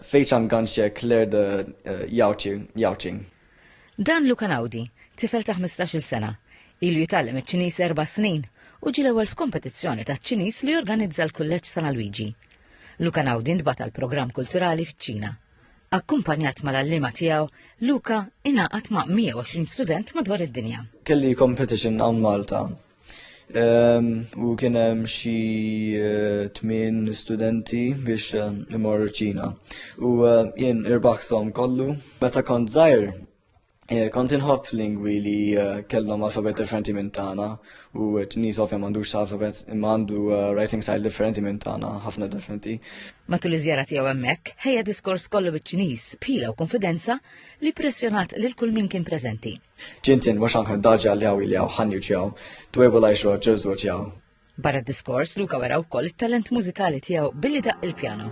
Fei Chang Ganxie Claire de Yaoqing. Dan Luca Naudi, tifel ta' 15-il sena, ilu jitgħallem iċ-Ċiniż erba' snin u ġie l-ewwel f'kompetizzjoni taċ-Ċiniż li jorganizza l-Kulleġġ San Alwiġi. Luca Naudi ntbagħat għal programm kulturali fiċ-Ċina. Akkumpanjat mal-għalliema tiegħu, Luca ingħaqad ma' 120 student madwar id-dinja. Kelli competition hawn Malta U kien hemm xi eh, tmien studenti biex eh, imorru ċina. U eh, jien irbaħsom kollu. Meta kont żgħir, kont inħobb lingwi li kellhom alfabet differenti minn tagħna u t-nies ovvja m'għandux alfabet imma għandu writing style differenti minn tagħna, ħafna differenti. Matul iż-żjara tiegħu hemmhekk, ħejja diskors kollu biċ-Ċiniż, pila u konfidenza li pressjonat lil kull min kien preżenti. Jin tin mhux anka daġi għal jaw il jaw ħanju ġjaw, dwebu lajx roġ ġeżu ġjaw. Barra d-diskors, Luka wera wkoll it-talent mużikali tiegħu billi daq il-pjano.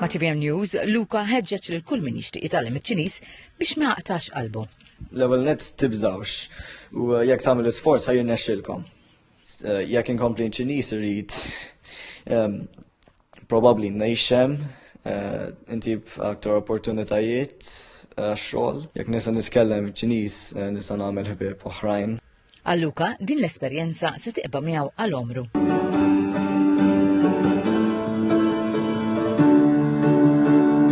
Ma' TVM News, Luka ħeġġeġ lil kull min jixtieq jitgħallem iċ-Ċiniż biex ma jaqtax qalbu. L-ewwel net tibżawx u eh, jekk tagħmel isforz ħajjin nexxilkom. Eh, jekk inkompli ċiniż irid ehm, Probabbli ngħixem eh, intib aktar opportunitajiet eh, għax-xogħol. Jekk nisa nitkellem Ċiniż eh, nisa nagħmel ħbieb oħrajn. Għalluka, din l-esperjenza se tiqba miegħu għal omru.